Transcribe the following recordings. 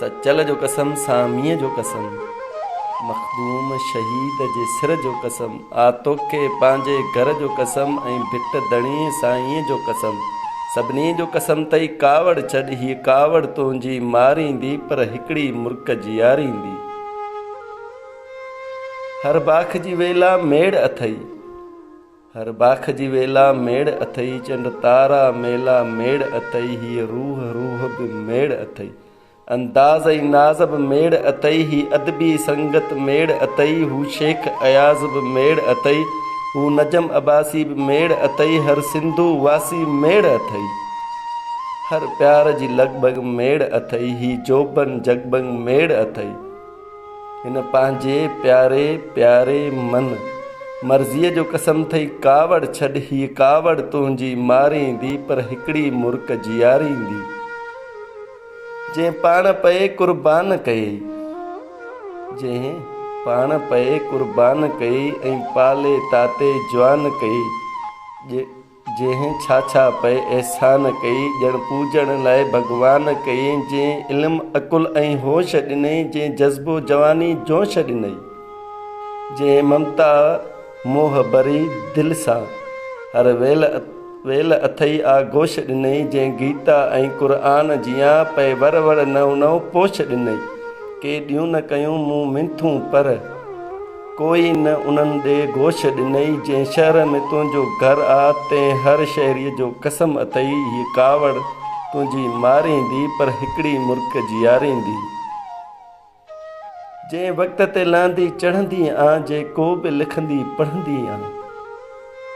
سچل جو قسم ساميء جو قسم مخدوم شهيد جي سر جو قسم آ توکي پنهنجي گهر جو قسم ۽ ڀٽ ڌڻي سائينء جو قسم سڀني جو قسم تئي ڪاوڙ ڇڏ هيء ڪاوڙ تنهنجي ماريندي پر هڪڙي مرڪ جياريندي هر باک جي ويلا ميڙ اٿئي. هر باک جي ويلا ميڙ اٿئي چنڊ تارا ميلا ميڙ اٿئي هيء روح روح به ميڙ اٿئي انداز ۽ ناز به ميڙ اٿئي هي ادبي سنگت ميڙ اٿئي هو شيخ اياز به ميڙ اٿئي هو نجم عباسي به ميڙ اٿئي هر سنڌو واسي ميڙ اٿئي هر پيار جي لڳ ڀڳ ميڙ اٿئي هي جوڀن جڳ ڀڳ ميڙ اٿئي هن پنهنجي پياري پياري من مرضيء جو قسم ٿئي ڪاوڙ ڇڏ هيء ڪاوڙ تنهنجي ماريندي پر هڪڙي مرڪ جياريندي جنهن پاڻ پئي قربان ڪيئي جنهن پاڻ پئي قربان ڪيئي ۽ پالي تاتي جوان ڪيئي جنهن ڇا ڇا پئي احسان ڪئي، ڄڻ پوڄڻ لاء ڀڳوان ڪئي، جنهن علم عقل ۽ هوش ڏنئي، جنهن جذبو جواني جوش ڏنئي، جنهن ممتا موهه ڀري دل سان، هر ويل ويل اٿئي آغوش ڏنئي، جنهن گيتا ۽ قرآن جيان، پئي ور ور نئون نئون پوش ڏنئي، ڪي ڏيون نه ڪيون مون منٿون پر. ڪوئي نه انهن ڏي گوش ڏنئي، جنهن شهر ۾ تنهنجو گهر آ، تنهن هر شهريء جو قسم اٿئي، هيء ڪاوڙ تنهنجي ماريندي، پر هڪڙي مرڪ جياريندي. جنهن وقت تي لهندي چڙهندي آن، جي ڪو به لکندي پڙهندي آن.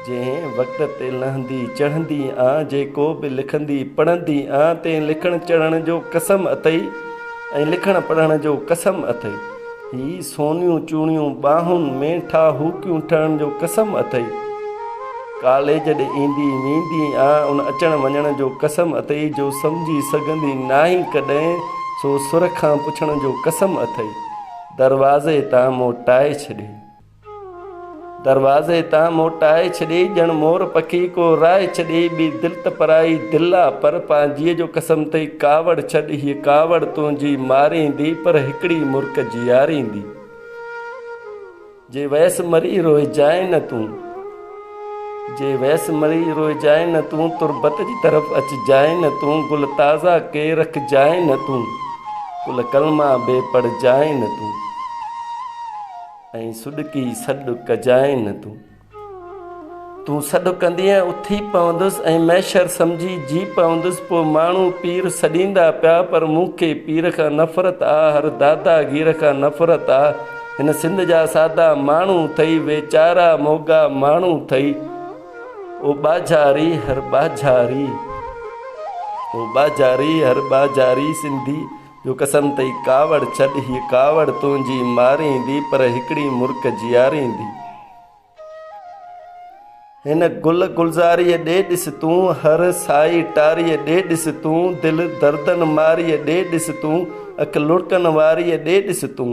جنهن وقت تي لهندي چڙهندي آن جيڪو به لکندي پڙهندي آن تنهن لکڻ چڙهڻ جو قسم اٿئي ۽ لکڻ پڙهڻ جو قسم اٿئي هي سونيون چوڻيون ٻانهن ۾ ٺاهوڪيون ٺهڻ جو قسم اٿئي ڪاليج ڏي ايندي ويندي آن ان اچڻ وڃڻ جو قسم اٿئي جو سمجهي سگهندي ناهين ڪڏهن سو سر کان پڇڻ جو قسم اٿئي دروازي تان موٽائي ڇڏي دروازي تان موٽائي ڇڏي، ڄڻ مور پکي ڪو رائي ڇڏي، ٻي دل ته پرائي دل آ، پر پنهنجيء جو قسم ٿئي، ڪاوڙ ڇڏ هيء ڪاوڙ تنهنجي ماريندي، پر هڪڙي مرڪ جياريندي. جي ويس مري روئجانء نه تون، جي ويس مري روئجانء نه تون، تربت جي طرف اچجانء نه تون، گل تازا ڪي رکجانء نه تون، گل ڪلما ٻي پڙهجانء نه تون. ائين سڏڪي سڏ ڪجانء نه تون. تون سڏ ڪندينء اٿي پوندس ۽ محشر سمجهي جي پوندس. پوء ماڻهو پير سڏيندا پيا پر مون کي پير کان نفرت آ، هر دادا گير کان نفرت آ. هن سنڌ جا سادا ماڻهو ٿئي، ويچارا موڳا ماڻهو ٿئي. او ٻاجهاري هر ٻاجهاري، او ٻاجهاري هر ٻاجهاري سنڌي. جو قسم تئي ڪاوڙ ڇڏ هيء ڪاوڙ تنهنجي ماريندي پر هڪڙي مرڪ جياريندي هن گل گلزاريء ڏي ڏس تون هر سائي ٽاريء ڏي ڏس تون دل دردن ماريء ڏي ڏس تون اک لڙڪن واريء ڏي ڏس تون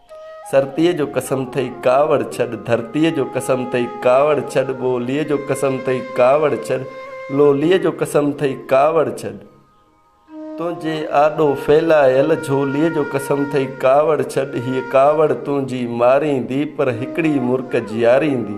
سرتيء جو قسم ٿئي ڪاوڙ ڇڏ، ڌرتيء جو قسم ٿئي ڪاوڙ ڇڏ، ٻوليء جو قسم ٿئي ڪاوڙ ڇڏ، لوليء جو قسم ٿئي ڪاوڙ ڇڏ، تنهنجي آڏو ڦهلايل جهوليء جو قسم ٿئي ڪاوڙ ڇڏ، هيء ڪاوڙ تنهنجي ماريندي، پر هڪڙي مرڪ جياريندي.